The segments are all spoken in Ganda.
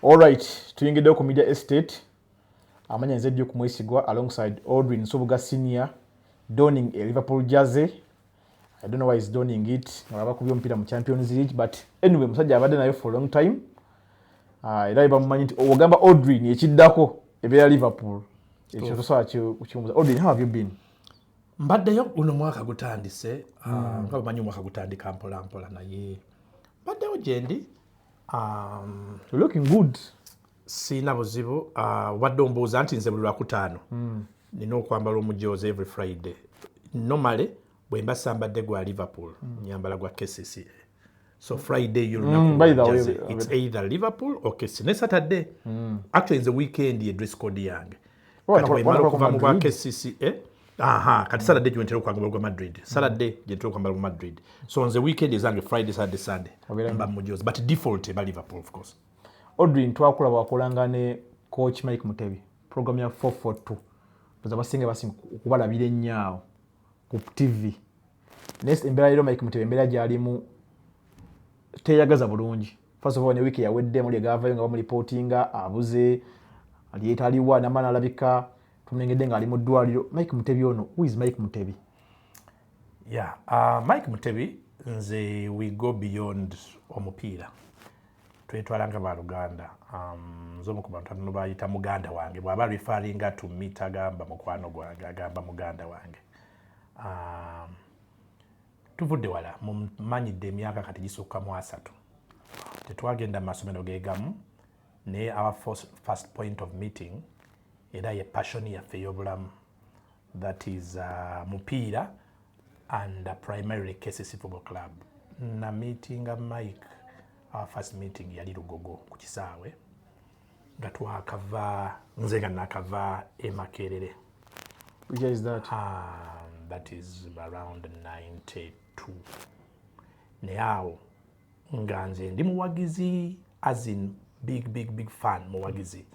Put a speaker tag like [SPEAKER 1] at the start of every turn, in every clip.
[SPEAKER 1] Alright, tuyingidde ku Media Estate. Amanya nze Duke Mwesigwa alongside Audrey Nsubuga Senior donning a Liverpool jersey. I don't know why he's donning it. Ngaba kubyo omupiira mu Champions League but anyway musajja abadde nayo for a long time. Ah, era bamumanyi nti ogamba Audrey ni ekiddako ebeera Liverpool. Ekyo tosobola kukimubuza. Audrey, how have you been? Mbaddeyo
[SPEAKER 2] guno mwaka gutandise. Ah, hmm. Nga bamanyi omwaka gutandika mpola mpola naye. Mbaddewo gyendi.
[SPEAKER 1] Um, looking good siina
[SPEAKER 2] buzibu uh, obadde ombuuza nti nze buli lwakutaano hmm. nina okwambala omujoozi every friday nomale bwe mba sambadde gwa liverpool hmm. nyambala gwa kcca so friday hmm, yolunakuits either liverpool or kcca ne saturday actually nze weekend ye dress code yange oh, kati bwemala okuva mu bwa kcca aha kati saturday gyentera okwagala ogwa madrid saturday gyentera okwambala ogwa madrid so nze weekend ezange friday saturday sunday mba mujozi but default eba liverpool of course odrin twakula
[SPEAKER 1] wakolanga ne coach mike mutebi program ya 442 oza basinga basinga okubalabira ennyaawo ku tv naye embeera leero mike mutebi embeera gyalimu teyagaza bulungi first of all ne wiiki yawedde muli egavayo nga bamulipootinga abuze aliyetaliwa namana alabika tumulengedde ng'ali mu ddwaliro mike mutebi ono who is mike mutebi
[SPEAKER 2] yeah, uh, mike mutebi nze we go beyond omupiira twetwala nga baluganda um, nze omu ku bantu atano bayita muganda wange bwaba refaringa to mit agamba mukwano gwange agamba muganda wange um, tuvudde wala mumanyidde emyaka kati gisukka mu asatu tetwagenda mu masomero gegamu naye our first point of meeting era ye passion yaffe ey'obulamu that is uh, mupiira and uh, primarily KCC football club na meetinga mike our first meeting yali lugogo ku kisaawe nga twakava nze nga nakava emakerere which
[SPEAKER 1] is that um, that
[SPEAKER 2] is around 92 naye awo nga nze ndi muwagizi as in big big big fan muwagizi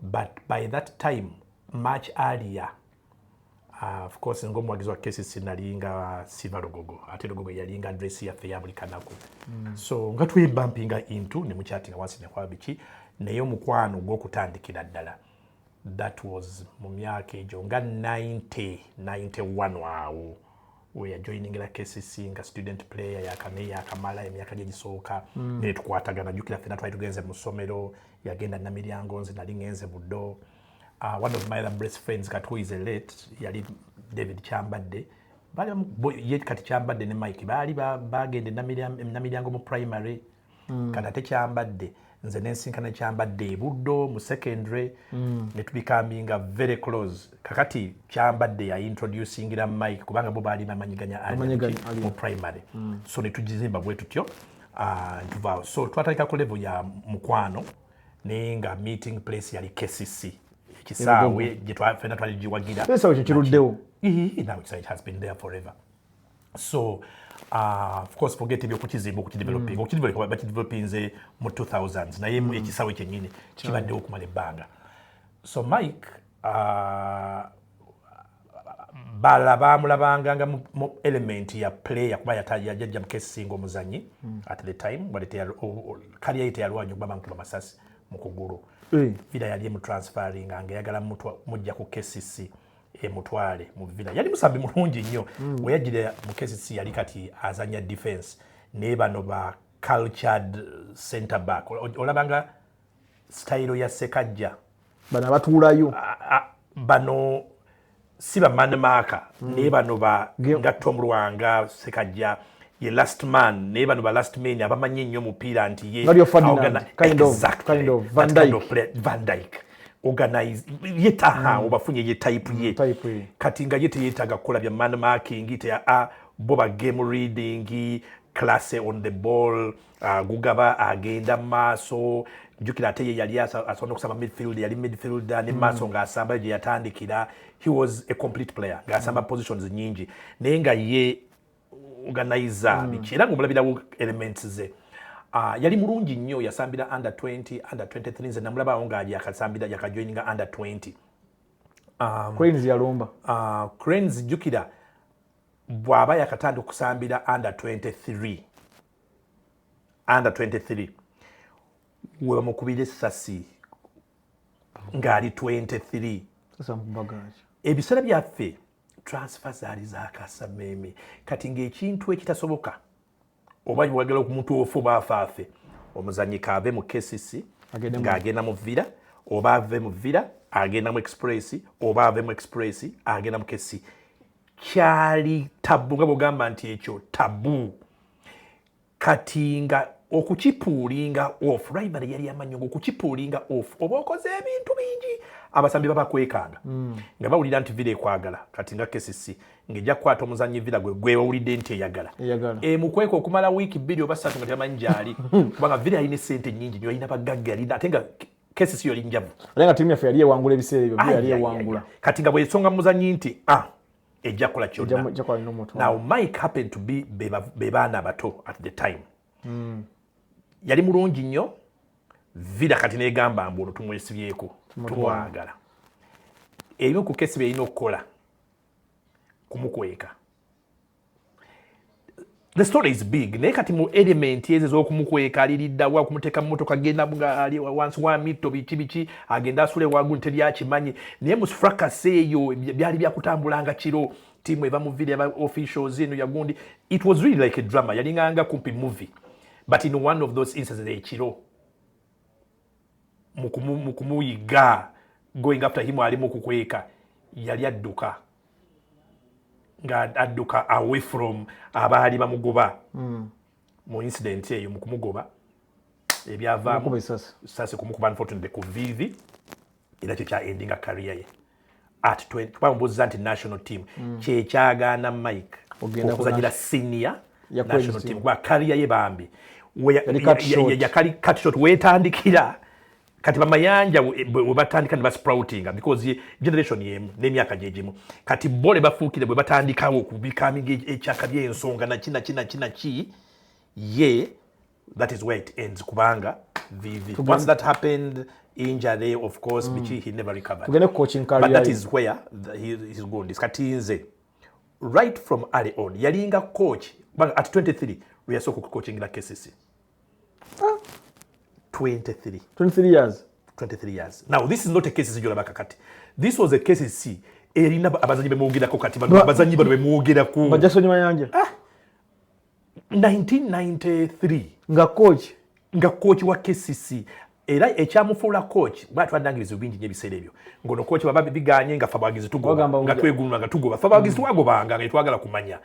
[SPEAKER 2] but by that time much earlier uh, of course nga omuwagizi wa kcc nalinga siva lugogo ate lugogo yalinga dress yaffe ya buli kanaku mm. so nga twebampinga into ne mukyatinga wansi nekwaba biki naye omukwano gwokutandikira ddala that was mu myaka egyo nga 90 91 awo we are joining la KCC nga student player yakame yakamala emyaka gye gisooka mm. ne tukwatagana jukira fena twali tugenze mu ssomero yagenda na miryango nze nali ngenze buddo uh, one of my other best friends kati who is a late yali David Chambadde bali ye kati Chambadde ne Mike bali bagenda ba na miryango mu primary mm. kati ate kyambadde nze nensinkana kyambadde ebuddo mu secondary mm. netubikambinga very close kakati kyambadde yaintroducingira mike kubanga bo baali bamanyi ganya mu primary mm. so netugizimba bwe tutyo ah, ntuvaawo so twatandika ku level ya mukwano naye nga meeting place yali kcc ekisaawe gyetwafena twali giwagira ekisaawe kyekiruddewo
[SPEAKER 1] nawe ekisaawe
[SPEAKER 2] has been there forever so uh, of course forget ebyokukizimba okukideveloping mm. okukidevelopa bakidevelopinze mu 2000 naye mm. ekisawe kyenyini kibaddewo okumala ebbanga so mike uh, bala bamulabanga nga mu element ya player kuba yajajja mukesinga omuzanyi mm. at the time kaliya ye teyalwanya okuba bankuba masasi mu kugulu vida eh. yali emutransferinga nga eyagala mujja ku kcc emutwale mu villa yali musambi mulungi nnyo mm. weyajire mukesi si yali kati azanya defense naye bano ba cultured center back olabanga style ya sekajja bano abatuulayo
[SPEAKER 1] bano
[SPEAKER 2] si ba man marker mm. naye bano ba nga tom lwanga sekajja ye last man naye bano ba last man abamanyi nnyo omupiira nti ye kind of, kind
[SPEAKER 1] of, Van Dijk.
[SPEAKER 2] Van Dijk. organize ye taha mm. obafunye ye type ye mm, kati nga ye teyetaaga kukola bya man marking te a bo ba game reading class on the ball uh, gugaba agenda maaso njukira ate ye yali asobola okusamba midfield yali midfielder ne mm. maaso mm. ng'asamba gye yatandikira he was a complete player ng'asamba mm. positions nyingi naye nga ye organizer mm. biki era ng'omulabirawo elements ze Uh, yali mulungi nnyo yasambira under 20 under 23 nze namulabawo nga yakasambira yakajoininga under 20 um,
[SPEAKER 1] cranes yalumba uh, cranes
[SPEAKER 2] jukira bwaba yakatandika okusambira under 23 under 23 webamukubira essasi ng'ali 23
[SPEAKER 1] ebiseera byaffe
[SPEAKER 2] transfer zaali zakasameeme kati ngaekintu ekitasoboka oba wagala okumuntu ofu baafaafe omuzanyi kaave mu kcc ng'agenda mu vira oba ave mu vira agenda mu express oba ave mu express agenda mu kcc kyali tabu nga bwogamba nti ekyo tabu kati nga okukipuulinga off ribery yali amannyo nga okukipuulinga off oba okoze ebintu bingi abasambi baba kwekanga mm. nga bawulira nti vira ekwagala kati nga kcc ngejja kukwata omuzanyi vira gwe gwewawulidde nti eyagala emukweka okumala wiiki bbiri oba satu nga tebamanyi gyali kubanga vira yalina esente nyingi nyo yalina bagagga yalina ate nga kesi siyo linjavu. Alenga timu yaffe yali
[SPEAKER 1] ewangula ebiseera ebyo yali ewangula. Kati nga bwesonga
[SPEAKER 2] muzanyi nti ah ejja kola kyonna now mike happened to be be baana bato at the time mm. yali mulungi nnyo vida kati negamba mbu ono tumwesibyeko tumwagala ebimu ku kesi byeyina okukola kumukweka the story is big naye kati mu element ezo ezokumukweka aliridda wa kumuteka mumotoka genda ali wansi wa mitto biki biki agenda asule wagu nteri akimanyi naye mu fracas eyo byali byakutambulanga kiro timu eva mu video aba officials eno yagundi it was really like a drama yalinganga kumpi movie but in one of those instances ekiro mukumuyiga going after him alimu kukweka yali adduka nga adduka away from abaali bamugoba mm. mu incident eyo mu kumugoba ebyavaamu sasi kumukuba unfortunately ku vivi era kyo kya endinga kariya ye at 20 kuba mbuuziza nti national team mm. kyekyagaana mike okuzanyira senior national team kuba kariya ye bambi yakali katshot wetandikira kati bamayanja webatandika ne basproutinga because generation yemu nemyaka gyegimu kati bo ne bafuukire bwe batandikawo okubikaminga e-, ekyaka byensonga naki naki naki naki ye that is where it ends kubanga vivi once that happened injury of course mm. biki mm. he never recovered tugende coaching career but that
[SPEAKER 1] is where the,
[SPEAKER 2] he, he's going is kati nze right from early on yalinga coach kubanga at 23 lwe yasooka okucoachingira kcc 23 23 years 23 years now this is not a case zijula bakakati this was a case si erina abazanyi bemwogerako kati bano abazanyi bano bemwogerako bajasoni mayanja ah 1993 nga coach
[SPEAKER 1] nga coach wa KCC
[SPEAKER 2] era ekyamufuula coach bwatwadangiriza obingi nyo ebiseera ebyo ngono coach baba biganye nga fabagizi tugoba nga tweguluna nga tugoba fabagizi mm. twagobanga nga twagala kumanya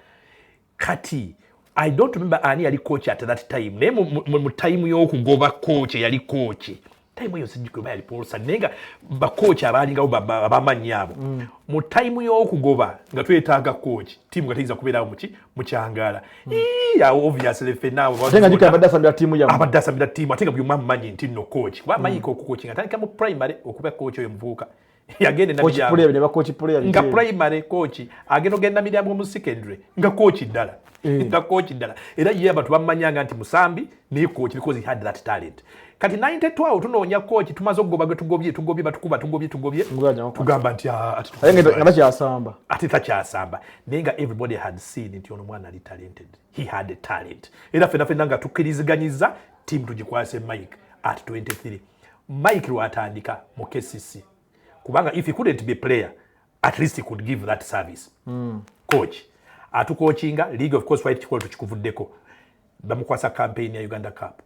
[SPEAKER 2] kati i don't remember ani yali kooki at that time naye mu tayimu y'okugoba kooki eyali kooki tayimu eyo sijjukira oba yali polosa naye nga bakooki abaalingawo abamanyi abo mm. mu tayimu y'okugoba nga twetaaga kooki tiimu nga teyinza kubeerawo muki mukyangaala mm. awo obviously fenaawoabadde
[SPEAKER 1] asabira
[SPEAKER 2] tiimu ate nga buli omu amumanyi nti nno kooki kuba amanyika mm. okukooki nga atandika mu primary okuba kooki oyo muvubuka yagenda nga primary coach agenda ogenda miryango mu secondary nga coach ddala eh. nga coach ddala era ye abantu bamumanyanga nti musambi naye coach because he had that talent kati 92 awo tunoonya coach tumaze okugoba gwe tugobye tugobye batukuba tugobye tugobye tugamba nti ah, takyasamba ate takyasamba naye nga everybody had seen nti ono mwana ali talented he had a talent era fena fena nga tukkiriziganyiza timu tugikwase mike at 23 mike lwatandika mu kcc kubanga if he couldn't be player at least he could give that service mm. coach atukokinga league of course twali tukikola tukikuvuddeko bamukwasa campaign ya uganda cup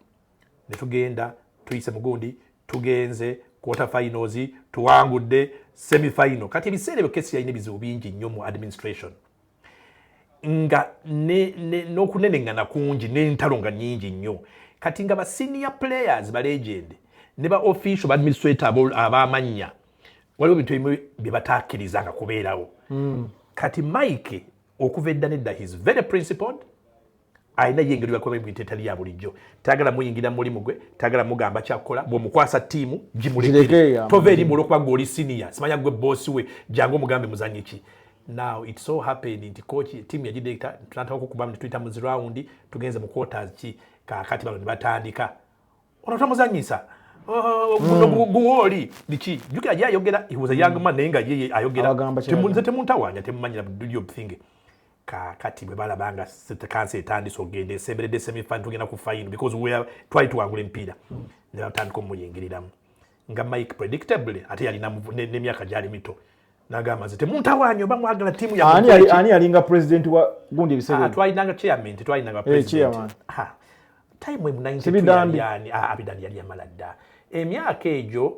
[SPEAKER 2] ne tugenda tuyise mugundi tugenze quarter finals tuwangudde semi final kati ebiseera ebyo kesi yalina ebizibu bingi nnyo mu administration nga n'okuneneŋŋana kungi n'entalo nga nnyingi nnyo kati nga ba senior players ba legend ne ba official ba administrator ab'amannya waliwo bintu ebimu bye bataakkirizanga kubeerawo hmm. kati mike okuva edda nedda his very principled alina ye engeri yakuba emirimu etali ya bulijjo tayagala muyingira mu mulimu gwe tayagala mugamba kyakukola bw'omukwasa ttiimu gimulekere tova erimu olwokuba gwe oli siniya simanya gwe boosi we jangu omugambe muzanyi ki now it so happened nti kooki ttiimu yagideekita tunataka okukubamu ne tuyita mu zirawundi tugenze mu quarters ki kaakati bano ne batandika ono tomuzanyisa oh, hmm. guwooli biki jukira gyayogera he was a young man naye nga ye ayogera temuntawanya temumanyira do your thing kakati bwe balaba nga kansi etandise okugenda esemberedde semifan tugenda ku fayini because wea twali tuwangula emipiira ne batandika omuyingiriramu nga mike predictably ate yalina n'emyaka gyali mito nagamba nze temuntawanyo oba mwagala tiimu yaani yalinga
[SPEAKER 1] president wa gundi ebiseera ah, twalinanga chairman
[SPEAKER 2] tetwalinanga eh, president ah, time emu 92 abidani yali amala dda emyaka egyo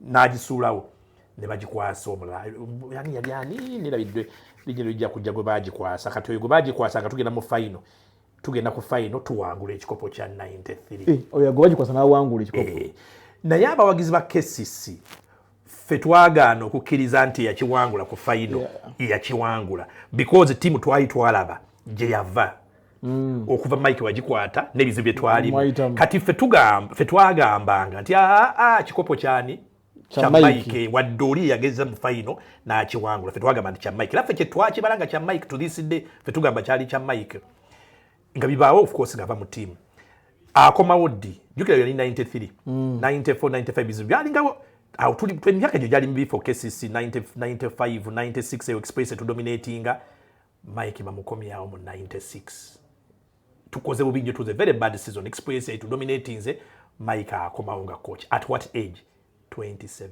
[SPEAKER 2] n'agisuulawo ne bagikwasa omulala yani yali ani nerabiddwe lijja lijja kujja gwe bagikwasa kati oyo gwe bagikwasa nga tugenda mu fayino tugenda ku fayino tuwangula ekikopo kya 93 eh, oyo gwe bagikwasa
[SPEAKER 1] n'awangula ekikopo eh, naye abawagizi
[SPEAKER 2] ba kcc ffe twagaana okukkiriza nti yakiwangula ku fayino yakiwangula because tiimu twali twalaba gye yava Mm. okuva mike wagikwata nebizibu byetwalimu kati fe twagambanga nti aa ah, ah, kikopo kyani kya mike wadde oli yageza mu faino nakiwangula fe twagamba nti kya mike era fe kyetwakibala nga kya mike to this day fe tugamba kyali kya mike nga bibaawo ofcourse ngaava mu tiamu akomawo ddi jukira yali 93 94 95 bizibu byalingawo awo tuli emyaka egyo gyali mibi for kcc 95 96 eyo express etudominatinga Mike bamukomyawo mu 96 tukoze bubi nnyo tuze very bad season experience yaitu dominatinze Mike akomawo nga coach at what age 27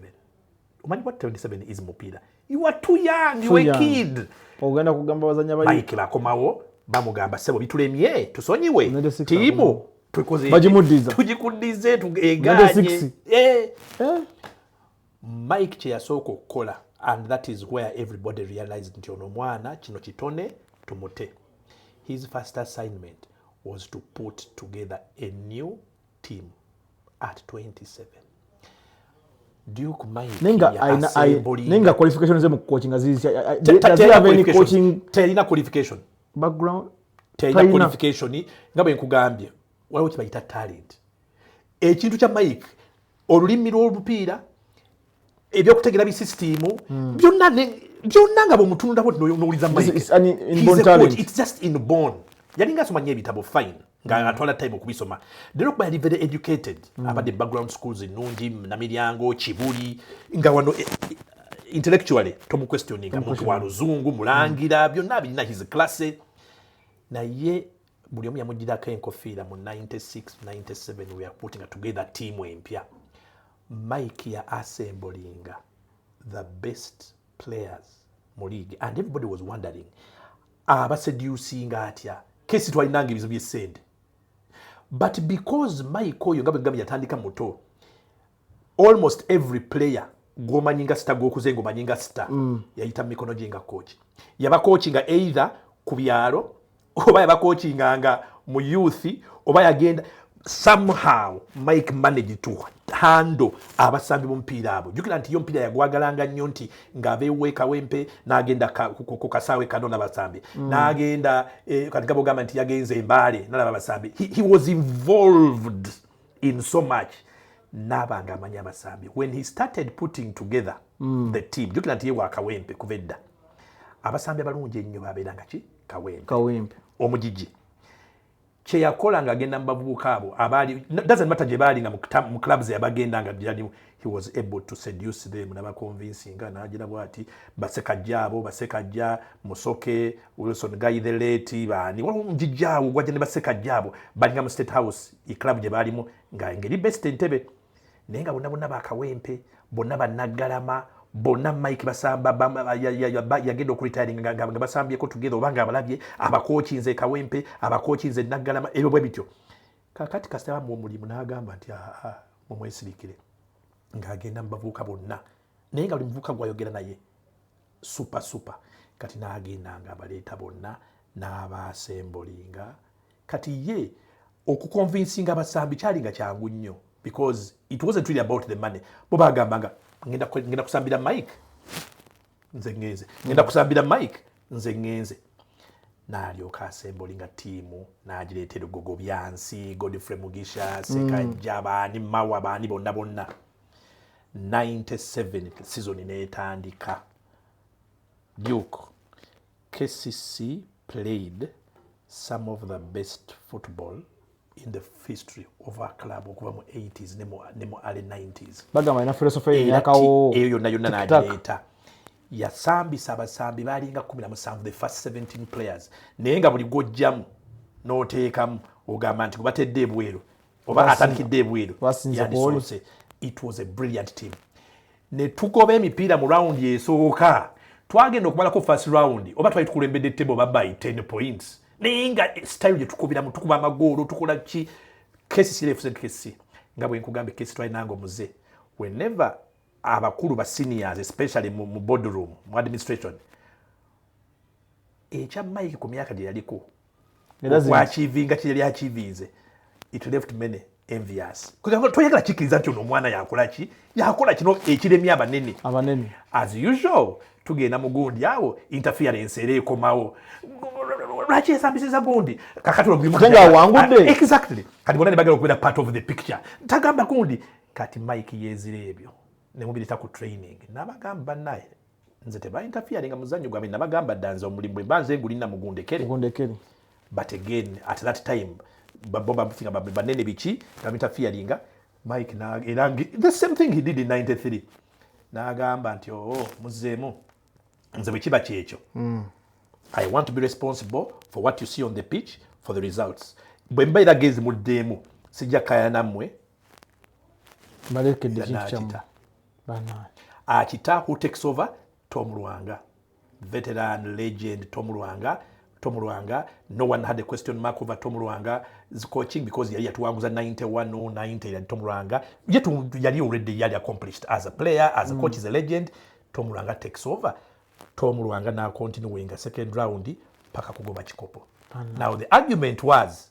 [SPEAKER 2] omanyi what 27 is mupiira you are too young you a kid ogenda kugamba
[SPEAKER 1] bazanya bali Mike bakomawo
[SPEAKER 2] bamugamba sebo bitulemye tusonyiwe tiimu tukoze tugikuddize tugeganye eh. eh. Mike kyeyasooka okukola and that is where everybody realized nti ono mwana kino kitone tumute. His first assignment was to put together a new team at 27. nenga qualification
[SPEAKER 1] ze mu coaching azizitelina
[SPEAKER 2] qualification background
[SPEAKER 1] telina
[SPEAKER 2] qualification nga bwe nkugambye waliwo kibayita talent ekintu kya mike olulimi lw'olupiira ebyokutegera bisisitiimu hmm. byonna byonna nga bwemutunulako nowuliza mikeitjustinbon yalinga asoma nyo ebitabo fine nga hmm. atwala time okubisoma naye okuba yali very educated hmm. abadde background schools ennungi namiryango kibuli nga wano eh, eh, intellectually tomuquestioninga muntu wa luzungu mulangira byonna birina his classe naye buli omu yamugirako enkofiira mu 9697 we are putting together tiimu empya mike ya assemblinga the best players mu league and everybody was wondering abaseducinga atya kesi twalinanga ebizibu byesente but because mike oyo nga bwegambye yatandika muto almost every player gwomanyi nga sita gwokuze nga omanyi nga sita mm. yayita mumikono gye nga kooki yabakooki nga either ku byalo oba yabakooki nga nga mu youth oba yagenda somehow mike manage to hando abasambi bomupiira abo jukira nti yo mpiira yagwagalanga nnyo nti ngaabeweekawempe nagenda ku kasaawe kano nabasambi mm. nagenda eh, kati gabogamba nti yagenze embaale nalaba basambi he, he was involved in so much naaba nga amanya abasambi when he started putting together mm. the team jukira nti ye wa kawempe kuva edda abasambi abalungi ennyo babeera nga ki kawempe kawempe omugigi kyeyakola nga agenda mubavubuka abo abaali doesn't matter gye baali nga mu clubs yabagenda nga gyalimu he was able to seduce them nabaconvinsinga nagira bwati basekajja abo basekajja musoke wilson guy the late baani waliwo omugigi awo gwajja ne basekajja abo balinga mu state house club gye baalimu nga ngeri best entebe naye nga bonna bonna bakawempe bonna banaggalama bonna mike basamba yagenda okuritaringa nga basambyeko tugeza oba nga abalabye abakokinze kawempe abakokinze naggalama ebyo bwe bityo kakati kasita bamuwa omulimu n'agamba nti aa mumwesirikire ng'agenda mu bavubuka bonna naye nga buli muvubuka gwayogera naye supa supa kati n'agenda nga abaleeta bonna n'abaasembolinga kati ye okukonvinsinga abasambi kyali nga kyangu nnyo because it wasn't really about the money bo bagamba nga ngenda kusambira mike nze ngenze ngenda kusambira mike nze ngenze nalyoka asemboli nga tiimu nagireeta ebigogo byansi godfrey mugisha sekajja mm. baani mawa baani bonna bonna 97 sizoni netandika duke KCC played some of the best football in the history of our club okuva mu 80s ne mu early 90s bagamba ina philosophy
[SPEAKER 1] eyakawo eyo yonna yonna nagireeta
[SPEAKER 2] yasambisa abasambi baalinga 17 the first 17 players naye nga buli gwojjamu n'oteekamu ogamba nti gwebatedde ebweru oba atandikidde ebweru yandisoose it was a brilliant team ne tugoba emipiira mu rawundi esooka twagenda okumalako first rawundi oba twali tukulembedde table oba by 10 points naye nga style gye tukubiramu tukuba amagoolo tukola ki kesi sirefuse kesi nga bwe nkugambye kesi twali nange omuze whenever abakulu ba seniors especially mu, mu boardroom mu administration ekya mike ku myaka gye yaliko okwakivinga kye yali akivinze it left many envious toyagala kikkiriza nti ono omwana yakola ki yakola kino ekiremye abanene abanene as usual tugenda mu gundi awo interference era ekomawo lwaki esambisiza gundi kakatiwangudde ah,
[SPEAKER 1] exactly kati
[SPEAKER 2] bona nebagala okubeera part of the picture tagamba gundi kati mike yezira ebyo nemubireta ku training nabagamba banaye nze tebaintafiyaringa nga muzanyo gwange nabagamba dda nze omulimu bwemba nze ngulina mugundekere but again at that time babobabufinga banene biki nabaintafiyaringa mike era the same thing he did in 93 nagamba nti oo oh, muzeemu nze bwe kiba kyekyo hmm. i want to be responsible for what you see on the pitch for the results bwe mba era gezi muddeemu sijja kaya nammwe mbalekedde
[SPEAKER 1] kintu kyamu akita who
[SPEAKER 2] takes over tom lwanga veteran legend tom lwanga tom lwanga no one had a question mark over tom lwanga coaching because yali yatuwanguza 91 or 90 yali tom lwanga yet yali already yali accomplished as a player as a mm. coach is a legend tom lwanga takes over tom lwanga na continue winga second round paka kugoba kikopo now the argument was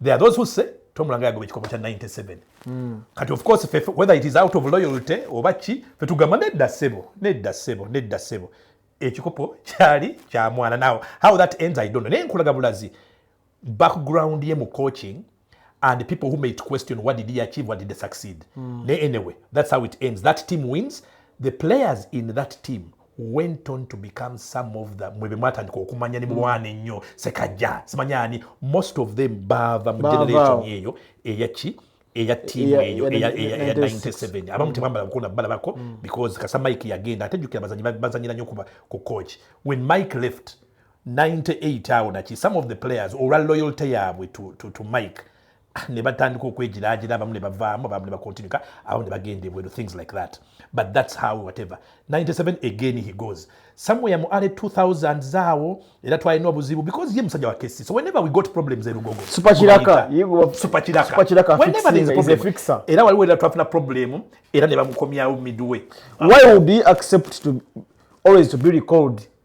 [SPEAKER 2] there are those who say Tom Langa yagoba ekikopo kya 97 mm. kati of course fe, whether it is out of loyalty oba ki fe tugamba nedda ssebo nedda ssebo nedda ssebo ekikopo kyali kya mwana now how that ends i don't know naye nkulaga bulazi background ye mu coaching and people who made question what did he achieve what did he succeed mm. naye anyway that's how it ends that team wins the players in that team went on to become some of the mwe bemwatandika okumanya nemulwana mm. ennyo sekajja simanya ani most of them baava mu generation eyo eyaki eya tiimu eyo eya 97 abamu tebambala bukona balabako mm. because kasa mike yagenda ate jukira bazanyi bazanyira nnyo kuba ku coach when mike left 98 awo naki some of the players olwa loyalty yaabwe to, to, to mike ne batandika okwegiraagira abamu ne bavaamu abamu ne bakontinuka abamu ne bagenda ebweru things like that but that's how whatever 97 again he goes somewhere mu early 2000 zaawo era twalina obuzibu because ye musajja wa kesi so whenever we got problems erugogo supakiraka
[SPEAKER 1] supakiraka whenever there is
[SPEAKER 2] a problem fixer era waliwo era twafuna problem era ne bamukomyawo midway why would he
[SPEAKER 1] accept to always to be recalled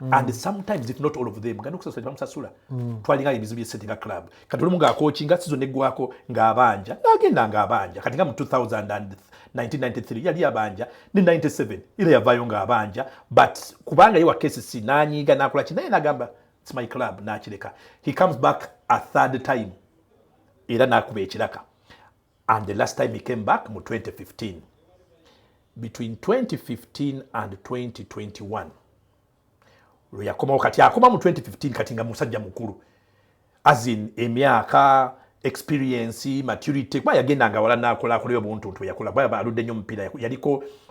[SPEAKER 2] Mm. and sometimes if not all of them gano kusasula bamusasula mm. twalinga ebizibu bye sente nga club kati olumu nga akochi nga sizo negwako nga abanja nagenda nga abanja kati nga mu 201993 yali abanja ne 97 ile yavayo nga abanja but kubanga ye wa KCC nanyiga nakola ki naye nagamba it's my club nakireka he comes back a third time era nakuba ekiraka and the last time he came back mu 2015 between 2015 and 2021 lwe yakomawo kati akoma mu 2015 kati nga musajja mukulu as in emyaka experience maturity kuba yagenda nga wala nakola akoleyo buntuntu yakola kuba aludde nnyo omupiira yaliko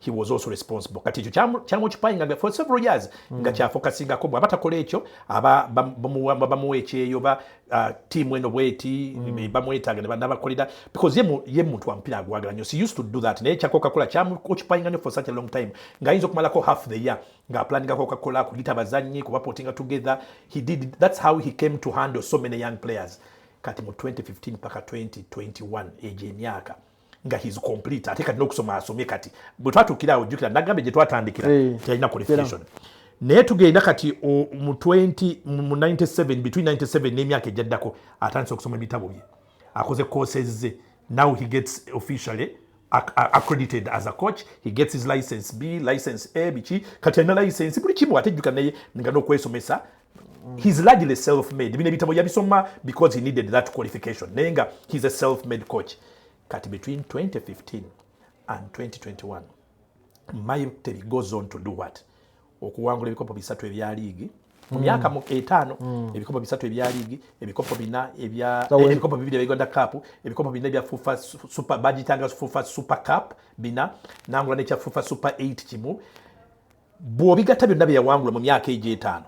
[SPEAKER 2] he was also responsible kati ekyo kyamucupayinga for several years mm. nga kyafokasingako bwaba takola ekyo aba bamuwa ekyeyo ba uh, tiimu eno bweti mm. bamwetaaga nabakolera because ye muntu wamupiira agwagala nyo si used to do that naye kyakoka kola kyamucupayinga nyo for such a long time nga ayinza okumalako half the year nga aplaningako okakola kuyita bazannyi kubapotinga together he did that's how he came to handle so many young players kati mu 2015 paka 2021 egyo emyaka nga his complete ate kati n'okusoma asomye kati bwe twatuukira awo jjukira nagambye gye twatandikira eh, teyalina qualification naye tugenda kati mu 20 mu 97 between 97 n'emyaka egyaddako atandise okusoma ebitabo bye akoze courses ze now he gets officially accredited as a coach he gets his license b license a biki kati alina license buli kimu ate jjuka naye nga n'okwesomesa Mm. He's largely self made. Bino ebitabo yabisoma because he needed that qualification. Naye nga he's a self made coach. Kati between 2015 and 2021 Mayu Teri goes on to do what? Okuwangula ebikopo bisatu ebya liigi mu myaka mm. etaano mm. ebikopo bisatu ebya liigi ebikopo bina ebya eh, ebikopo bibiri ebya Uganda Cup ebikopo bina ebya FUFA Super bagitanga FUFA Super Cup bina nangula n'ekya FUFA Super 8 kimu bw'obigatta byonna bye yawangula mu myaka egyo etaano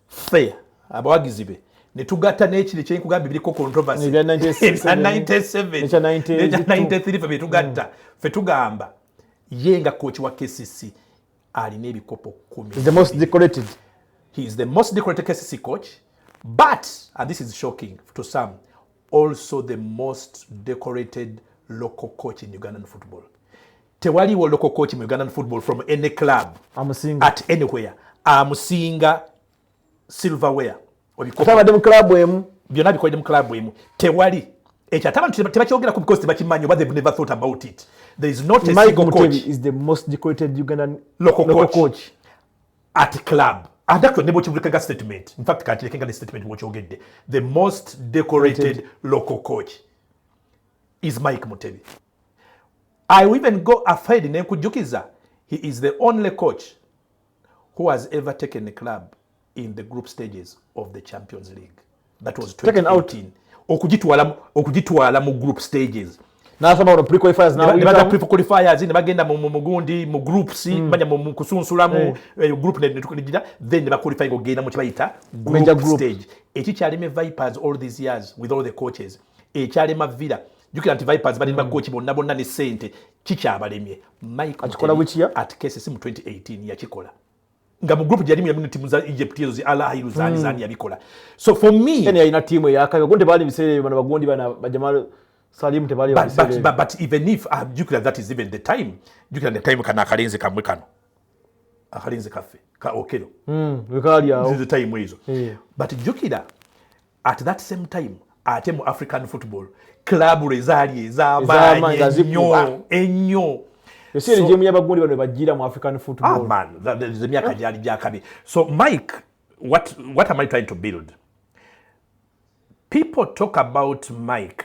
[SPEAKER 2] ffe abawagizi be ne tugatta n'ekiri kye nkugamba ebiriko controversy ebya 97 fe bye tugatta fe tugamba ye nga kooki wa kcc alina ebikopo kumi the most decorated
[SPEAKER 1] he is the
[SPEAKER 2] most decorated kcc coach but and this is shocking to some also the most decorated local coach in ugandan football tewaliwo local coach mu ugandan football from any club amusinga at anywhere amusinga silverware obitabadde
[SPEAKER 1] mu club emu byonna bikolede mu club
[SPEAKER 2] emu tewali ekyo ate abantu tebakyogerako because tebakimanyi oba they've never thought about it there is not a single coach is the most decorated
[SPEAKER 1] ugandan local, local coach.
[SPEAKER 2] coach at club and actually ne bwekivulikaga statement in fact kantirekenga ne statement bwokyogedde the most decorated local coach is mike mutebi i even go afaid nenkujjukiza he is the only coach who has ever taken a club in the group stages of the champions league that was taken out in okugitwala okugitwala mu group stages nasoma pre
[SPEAKER 1] qualifiers na baga pre qualifiers
[SPEAKER 2] ne bagenda mu mugundi mu groups mm. banya mu kusunsula mu eh. Eh, group ne tukunijira then ba qualify go genda mu kibayita group, group stage eki kyali me vipers all these years with all the coaches ekyalema villa jukira nti vipers bali ba coach bonna bonna ne sente kikyabalemye mike akikola bukiya at cases mu 2018 yakikola nga mu group gyali mu timu za Egypt ezo zi Allah hiru zani mm. zani yabikola so for me ene yaina ina timu ya kayo
[SPEAKER 1] gonde bali misere bana bagondi bana bajamal Salim te bali but, but, but, but even if uh,
[SPEAKER 2] jukira that is even the time jukira the time kana akalenze kamwe kano akalenze kafe ka okelo mm wekali yao
[SPEAKER 1] the time hizo
[SPEAKER 2] yeah. but jukira at that same time ate mu african football club lwe zaali ezamaanyi ennyo eseregemu
[SPEAKER 1] yabagundi bano bajira mu african footballmyaka
[SPEAKER 2] ah, gyali gyakabi so mike what, what am i trying to build people talk about mike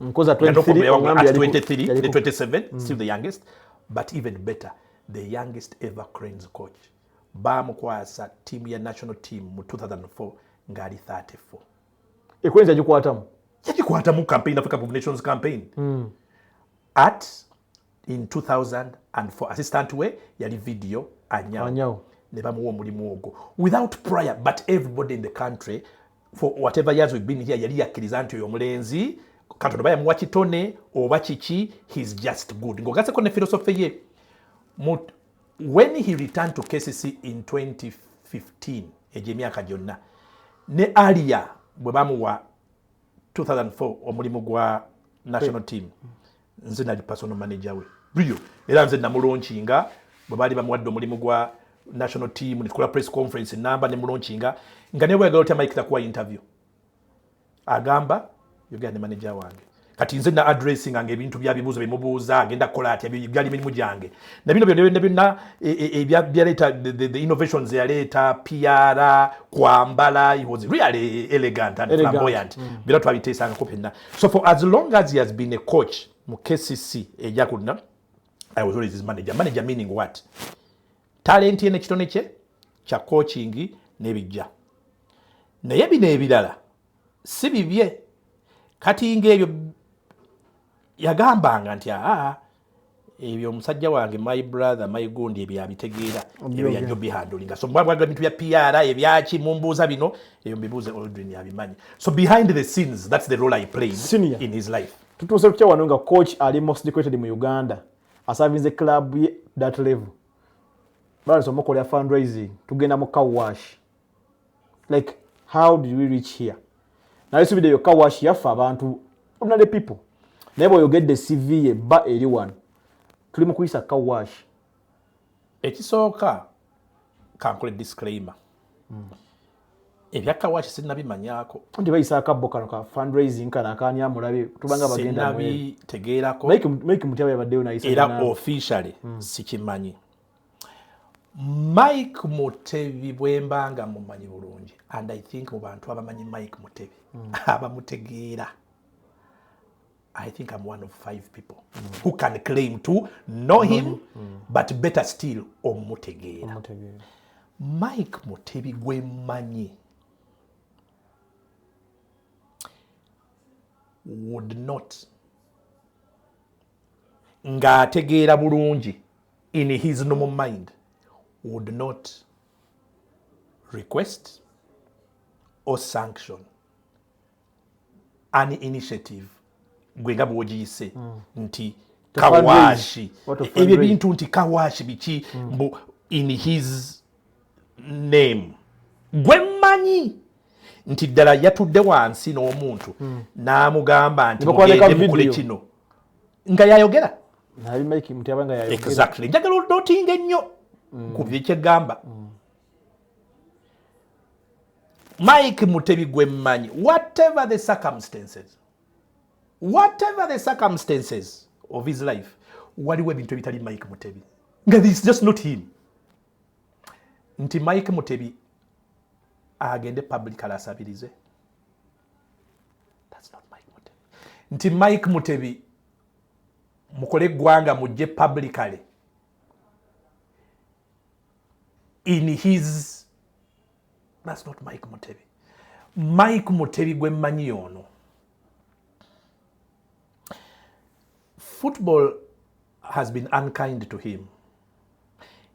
[SPEAKER 1] nkoza 23 mm.
[SPEAKER 2] still the youngest but even better the youngest ever cranes coach bamukwasa tiimu ya national team mu 2004 ngaali 34 ekwenza
[SPEAKER 1] gikwatamu
[SPEAKER 2] yagikwatamu campaign africa of nations
[SPEAKER 1] campaign mm.
[SPEAKER 2] at in 2004 assistant we yali video anyawo ne bamuwa omulimu ogwo without prior but everybody in the country for whatever years we've been here yali yakkiriza nti oyo omulenzi katonda oba yamuwa kitone oba kiki he's just good ng'ogaseko ne philosophy ye when he returned to kcc in 2015 egyo emyaka gyonna ne alia bwe bamuwa 2004 omulimu gwa national team nze nali personal manager we brio era nze namulonkinga bwe baali bamuwadde omulimu gwa national team netukola press conference namba nemulonkinga nga naye bweyagala otya mike takuwa interview agamba yogera ne manager wange kati nze na addressing nga ebintu bya bibuzo bimubuuza agenda kola atya byali mirimu gyange na bino byonna byonna byonna e, e, e, ebya byaleeta the innovations yaleeta PR kwambala he was really elegant and flamboyant mm. bino twabiteesangako fenna so for as long as he has been a coach mu kcc eja kulina i was always his manager manager meaning what talenti ye nekitone kye kya coaching nebijja naye bino ebirala si bibye kati ngaebyo yagambanga nti aa ebyo omusajja wange my brother my gundi ebyo abitegeera ebyo yajjo bihandulinga so mbwabwaga bintu bya pr ebyaki mumbuuza bino ebyo mbibuuze oldrin abimanyi so behind the scenes that's the role i played Senior. in his life tutuuse kutya wano nga
[SPEAKER 1] coach ali most decorated mu uganda asavinze club ye that level balesa omukolera fundraising tugenda mu cowash like how did we reach here naye subide yokka washi yaffe abantu ordinary people naye bweoyogedde cv ye bba eri wano tuli mu kuyisa ka washi ekisooka
[SPEAKER 2] kankole disclaimer mm. ebyakawaaki sinabimanyako nti bayisa akabbo
[SPEAKER 1] kano ka fundraising kano akaani amulabe tubanga bagendaabitegeerako
[SPEAKER 2] mike mutyaba
[SPEAKER 1] yabaddeyo nayisa era officially
[SPEAKER 2] mm. sikimanyi mike mutebi bwemba nga mumanyi bulungi and i think mu bantu abamanyi mike mutebi mm. abamutegeera i think am one of five people mm. who can claim to know him mm. Mm. but better still omutegeera mike mutebi gwemanyi would not ng'ategeera bulungi in his normal mind would not request or sanction an initiative gwe nga bwogiyise mm. nti kawashi ebyo ebintu nti kawashi biki mm. mbu in his name gwe mmanyi nti ddala yatudde wansi n'omuntu mm. n'amugamba nti mugende mukole kino nga yayogera nali mike
[SPEAKER 1] mutyaba nga yayogera exactly njagala onotinga
[SPEAKER 2] ennyo mm. ku byekyegamba mm. mike mutebi gwe mmanyi whatever the circumstances whatever the circumstances of his life waliwo ebintu ebitali mike mutebi nga this just not him nti mike mutebi agende public alasabirize nti mike mutebi mukole eggwanga mujje publically in his that's not mike mutebi mike mutebi gwe mmanyi ono Football has been unkind to him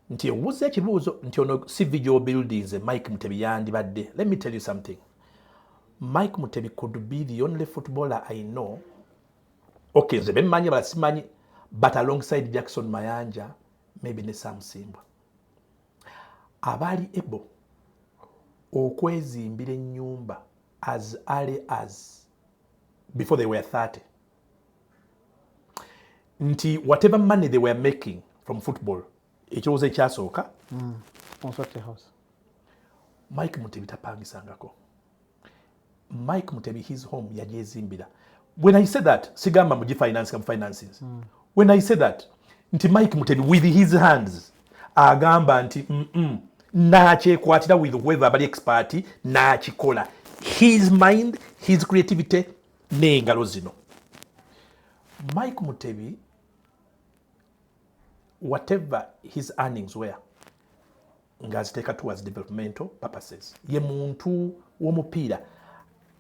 [SPEAKER 2] nti ewuza ekibuuzo nti ono CV gy'obuildinze Mike Mutebi yandibadde. Let me tell you something. Mike Mutebi could be the only footballer I know. Okay, nze bemmanyi bala simanyi but alongside Jackson Mayanja maybe ne Sam Simbwa. Abaali ebo okwezimbira ennyumba as early as before they were 30. nti whatever money they were making from football ekirowoozo ekyasooka mm. mike mutebi tapangisangako mike mutebi his home yagyezimbira when i say that sigamba mugifinansinga mufinances mm. when i say that nti mike mutebi with his hands agamba nti mm -mm, nakyekwatira with whoever abali expert nakikola his mind his creativity n'engalo zino mike mutebi whatever his earnings were ng'aziteeka towards developmental purposes ye muntu w'omupiira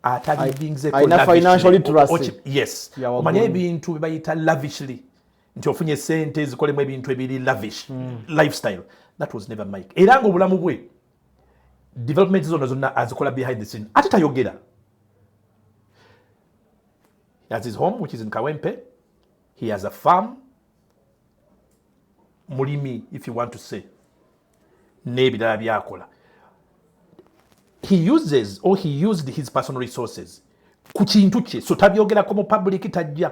[SPEAKER 2] atalivinzeomanya ebintu bebayita lavishly nti ofunye sente ezikolemu ebintu ebiri lavish mm. lifestyle that was never mike era ngaobulamu bwe development zona zonna azikola behind the scene ate tayogera he has his home which is in kawempe he has a farm mulimi if you want to say n'ebirala byakola he uses or he used his personal resources ku kintu kye so tabyogerako mu public tajja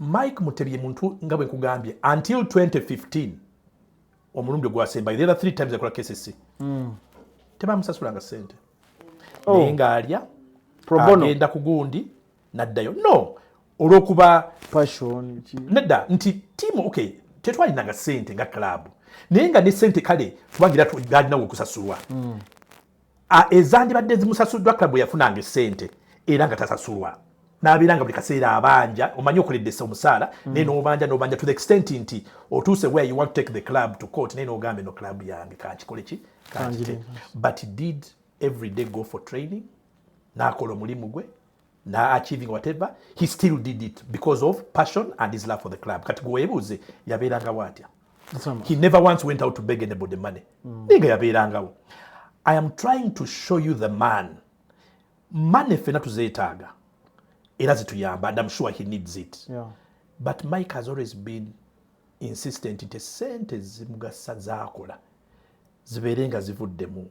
[SPEAKER 2] Mike Mutebye muntu nga bwe nkugambye until 2015 omulundi ogwasembayo there are three times akola KCC mm. tebamusasulanga sente oh. naye ng'alya agenda ku gundi n'addayo no olw'okuba
[SPEAKER 1] nedda nti
[SPEAKER 2] tiimu okay tetwalinanga sente nga club naye nga ne sente kale kubangira alinawo okusasulwa mm. ezandibadde zimusasuddwa club yafunanga esente era nga tasasulwa nabeera nga buli kaseera abanja omanyi okuledesa omusaala mm. naye nobanja nobanja to the extent nti otuuse where you want to take the club to court naye nogamba eno club yange kankikole ki but did every day go for training nakola omulimu gwe na achieving whatever he still did it because of passion and his love for the club kati gwewebuuze yabeerangawo atya he never once went out to beg anybody money mm. ninga yabeerangawo i am trying to show you the man money fena tuzeetaaga era zituyamba and im sure he needs it yeah. but
[SPEAKER 1] mike has
[SPEAKER 2] always been insistent nti sente zimugasa zakola zibeere nga zivuddemu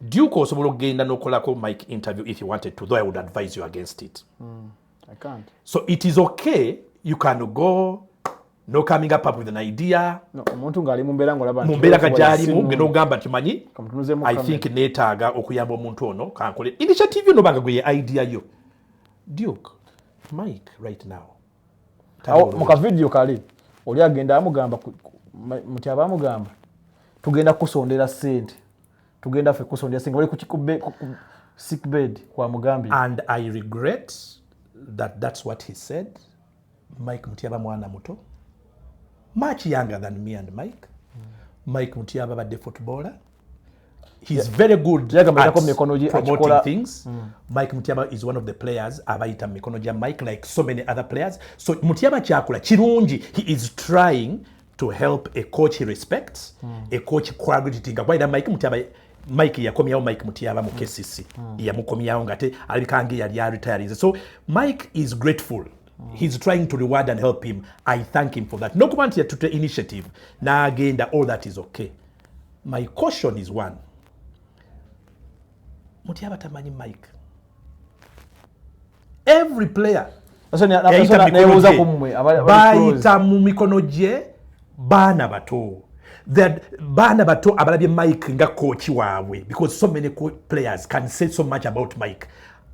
[SPEAKER 2] duke osobola okugenda nokolako mike interview if you wanted to though i would advise you against it mm, I can't.
[SPEAKER 1] so it is okay
[SPEAKER 2] you can go no coming up up with an idea omuntu ngaali
[SPEAKER 1] mumbeera ngolaba mumbeera ka gyalimu
[SPEAKER 2] genda ogamba nti manyi i think neetaaga okuyamba omuntu ono kankole initiative yo nobanga gwe ye idea yo duke mike right now
[SPEAKER 1] mukavidiyo kale oli agenda amugamba muti aba amugamba tugenda kukusondera sente tugenda fe kukusondera sente bali sick bed kwa mugambi and i regret
[SPEAKER 2] that that's what he said mike mutyaba mwana muto much younger than me and mike mm. mike mutyaba badde footballer he's very good at promoting things mm. mike mutyaba is one of the players abayita mu mikono gya mike like so many other players so mutyaba kyakula kirungi he is trying to help a coach he respects mm. a coach quality nga kwayira mike mutyaba mike yakomyawo mike mutyaba mu kcc mm. mm. yamukomyawo ngate alabika nge yali aretirinze so mike is grateful Mm. he's trying to reward and help him i thank him for that nokuba nti yatutte initiative n'agenda all that is okay My caution is one. Mutya batamanyi Mike. Every player bayita mu mikono gye baana bato baana bato abalabye mike nga coach waabwe because so many players can say so much about mike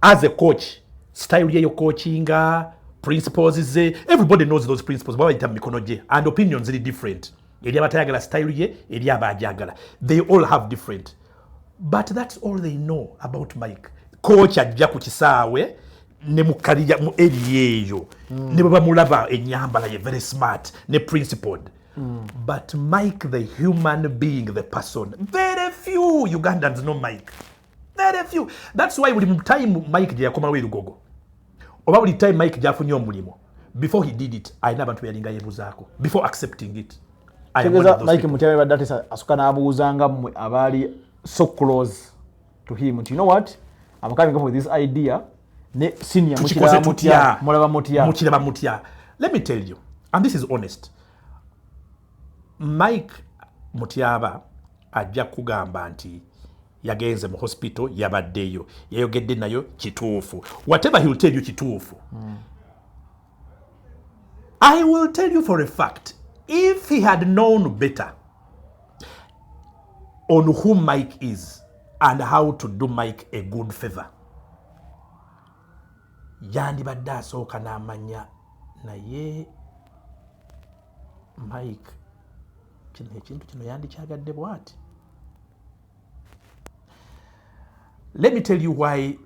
[SPEAKER 2] as a coach style yeyo coachinga principles ze everybody knows those principles babayita mu mikono gye and opinion ziri different eri abatayagala style ye eri abagyagala they all have different but that's all they know about mike coach ajja ku kisaawe ne mukalija mu eri eyo mm. ne bwebamulaba enyambala ye very smart ne principled mm. but mike the human being the person very few ugandans no mike very few that's why buli time mike gyeyakomawo erugogo oba buli time mike gyafunye omulimu before he did it alina abantu beyalinga yebuzaako before accepting it tegeza mike
[SPEAKER 1] mutyame badde ate asuka n'abuuzanga mmwe abaali so close to him nti you know what am coming up with this idea ne senior mukiraba mutya mulaba mutya mukiraba mutya let me tell
[SPEAKER 2] you and this is honest mike mutyaba ajja kugamba nti yagenze mu hospital yabaddeyo yayogedde nayo kituufu whatever he will tell you kituufu mm. i will tell you for a fact if he had known better on who mike is and how to do mike a good favor yandibadde asooka n'amanya naye mike kino ekintu kino yandikyagadde bwati let me tell you why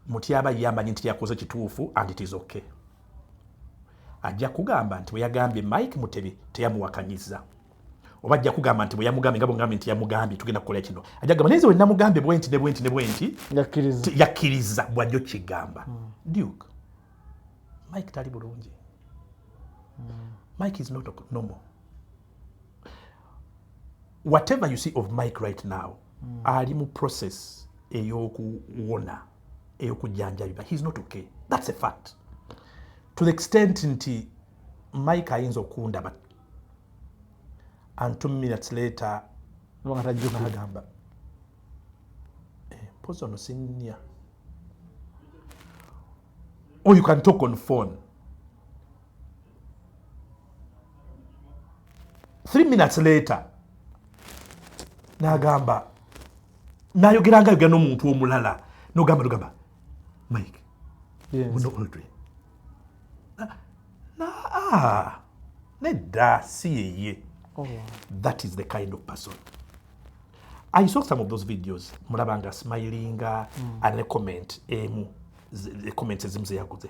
[SPEAKER 2] mutyaba yamanyi nti yakoze kituufu and it is okay ajja kugamba nti bweyagambye mike mutebi teyamuwakanyiza oba ajja kugamba nti bweyamugambye nga bwegambye nti yamugambye tugenda kukola kino ajja kugamba naye wenamugambye bwenti ne bwenti ne bwenti yakkiriza bwajja okigamba hmm. duke mike tali bulungi hmm. mike is not normal whatever you see of mike right now mm. ali mu process eyokuwona eyokujjanjabiba heis not okay thats a fact to the extent nti mike ayinza okundaba and two minutes later nagamba mpozi ono sinya or you can talk on phone three minutes later nagamba nayogera nga yogera nomuntu omulala nogamba nogamba mike muno oldre naa nedda si yeye oh, that is the kind of person i saw some of those videos mulabanga smilinga mm. ane comment emu comments ezimu zeyaguze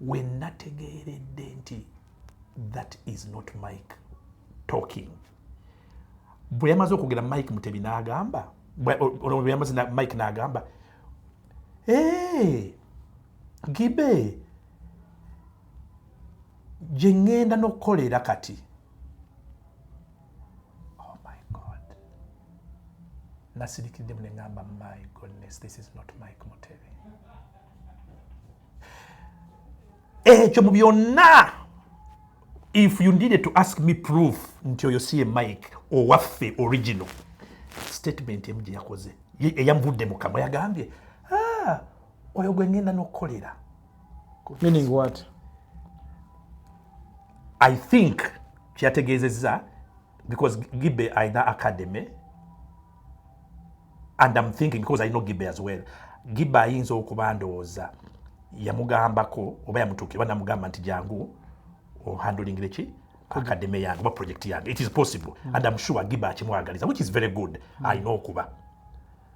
[SPEAKER 2] wenategeeredde nti that is not mike talking bwe yamaze okwogera mike mutebi n'agamba yamaze mike n'agamba ee gibe gye ŋŋenda n'okukolera kati oh my god nasirikiddemu ne ŋamba my goodness this is not mike mutebi ekyo mu byonna if you needed to ask me proof nti oyo si ye mike owaffe original statement emu gye yakoze eyamuvudde mu kamwa yagambye ah, oyo gwe ngenda n'okukolera meaning
[SPEAKER 1] what i
[SPEAKER 2] think kyeyategeezezza because gibe alina academy and am thinking because i know gibe as well gibe ayinza okuba ndowooza yamugambako oba yamutuukira oba namugamba nti jangu ohandulingire ki akademe yange oba project yange it is possible mm. and am sure gibe akimwagaliza which is very good mm. alina okuba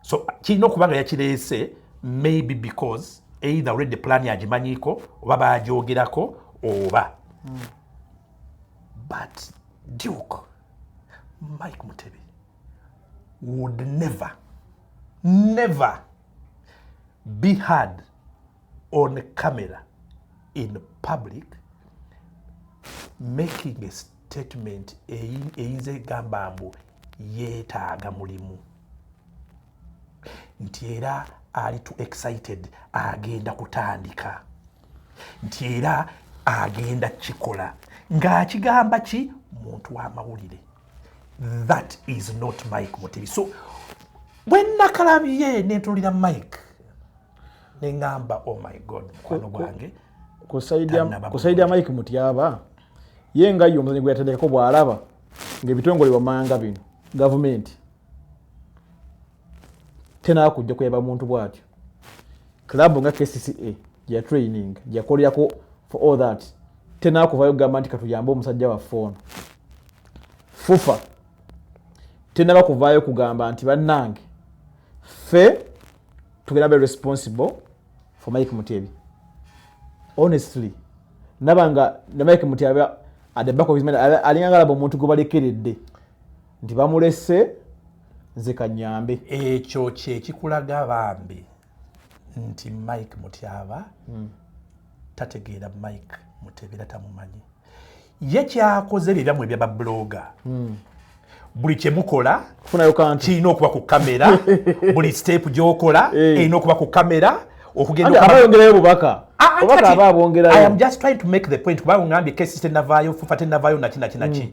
[SPEAKER 2] so kirina okuba nga yakireese maybe because either already plan agimanyiiko oba bagyogerako oba mm. but duke mike mutebi would never never be heard on camera in public making a statement eyinza egamba mbu yeetaaga mulimu nti era ali to excited agenda kutandika nti era agenda kikola ng'akigamba ki muntu w'amawulire that is not mike mutebi so bwenakalabye netulira mike nengamba oh my god mukwano gwange
[SPEAKER 1] kusaidi ya mike mutyaba ye nga ye omuzanyi gweyatendekako bwalaba ngaebitongole wamanga bino gavumenti tena kujja kuyaba muntu bwatyo club nga kcca gya training gyakolerako for all that tena kuvayo kugamba nti katuyambe omusajja waffe ono fufa tenaba kuvaayo kugamba nti bannange ffe tugenda be responsible for mike mutebi honestly nabanga ne mike mutebi at the back of his mind alinganga laba omuntu gwebalekeredde nti bamulese nze kanyambe ekyo
[SPEAKER 2] kyekikulaga bambi nti mike mutyaba hmm. tategeera mike mutebera tamumanyi ye kyakoze byebyamu ebya babuloga hmm. buli kyemukola kirina
[SPEAKER 1] okuba ku kamera
[SPEAKER 2] buli sitepu gyokola eh. erina okuba ku kamera okugendaayongerayo bubaka
[SPEAKER 1] ah, ah,
[SPEAKER 2] kuba ngambye kesi tenavaayo fufa tenavaayo nakinakina ki hmm.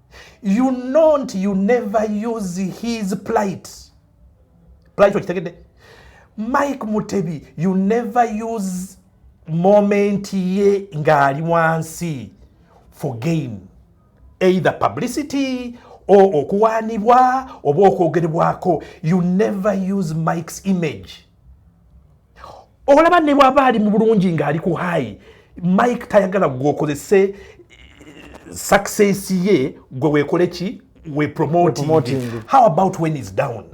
[SPEAKER 2] you know nti you never use his plight plight okitegedde mike mutebi you never use moment ye ng'ali wansi for gain either publicity or okuwaanibwa oba okwogerebwako you never use mike's image olaba ne bwaba ali mu bulungi ng'ali ku hayi mike tayagala gweokozese eh, success ye gwe wekole ki we promoting how about when is down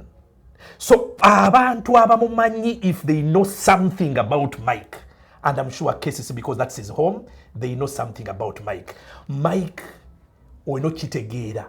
[SPEAKER 2] so abantu abamumanyi if they know something about mike and i'm sure cases because that's his home they know something about mike mike olina okitegeera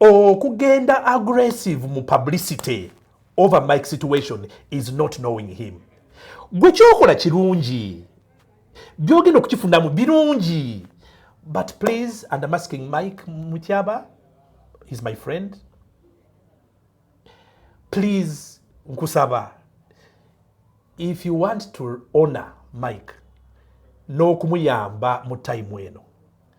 [SPEAKER 2] okugenda oh, aggressive mu publicity over mike situation is not knowing him gwe kyokola kirungi byogenda okukifunamu birungi but please and am asking mike mutyaba is my friend please nkusaba if you want to honor mike n'okumuyamba mu time eno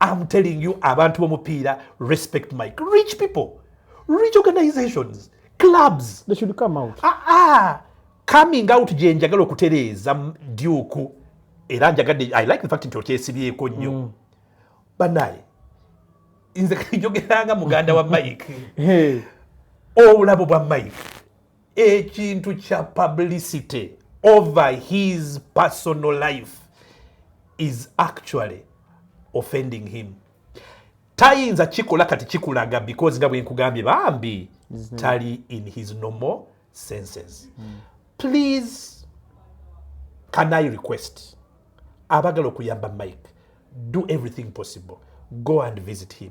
[SPEAKER 2] am telling you abantu bomupiira respect mike rich people rich organizations clubs they should come out
[SPEAKER 1] ah, ah.
[SPEAKER 2] coming out gye njagala okutereeza duku era njagadde i like the fact nti okyesibyeko nnyo mm. banaye nze kanjogeranga muganda wa mike obulabo bwa mike ekintu kya publicity over his personal life is actually offending him tayinza kikola kati kikulaga because nga bwenkugambye bambi mm-hmm. tali in his normal senses mm. please can i request abagala okuyamba mike do everything possible go and visit him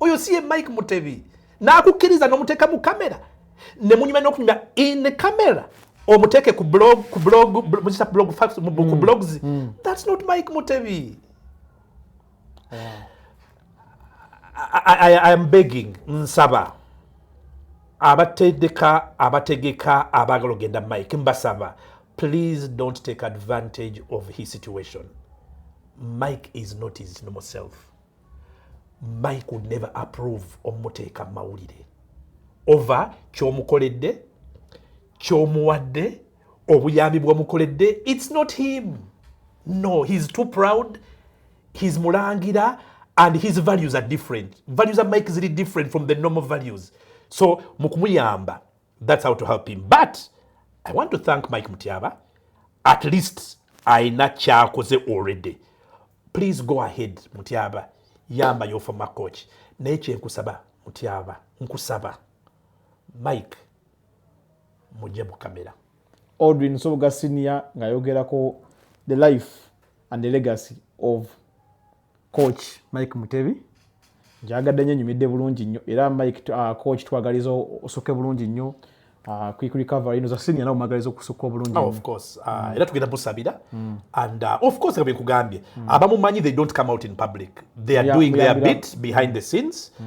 [SPEAKER 2] oyo si ye mike mutebi n'akukkiriza n'omuteeka mu kamera ne munyuma n'okunyuma in camera omuteeke ku blog ku blog muzita blog fax ku mm. blogs mm. that's not mike mutebi yeah. I, I, I am begging nsaba abatedeka abategeka abaagala ogenda mike mbasaba please don't take advantage of his situation mike is not his normal self mike would never approve omuteeka mu mawulire ova kyomukoledde kyomuwadde obuyambi bwomukoledde its not him no heis too proud heis mulangira and his values are different values are mike ziri different from the normal values so mukumuyamba That's how to help him. But I want to thank Mike Mutiaba. At least aina kyakoze already. Please go ahead Mutiaba. Yamba your former coach. Naye kyenkusaba Mutiaba. Nkusaba. Mike mujje mu kamera. Audrey
[SPEAKER 1] Nsoboga Senior ngayogerako the life and the legacy of coach mike mutebi njagadde nyo nyumidde bulungi nyo era mike uh, coach twagaliza osoke bulungi nyo uh, quick recovery ino za senior nawe magaliza okusuka obulungi oh, of course uh, mm. era
[SPEAKER 2] tugenda busabira mm. and uh, of course kabye kugambye mm. abamumanyi they don't come out in public they are yeah, doing their bit behind the scenes mm.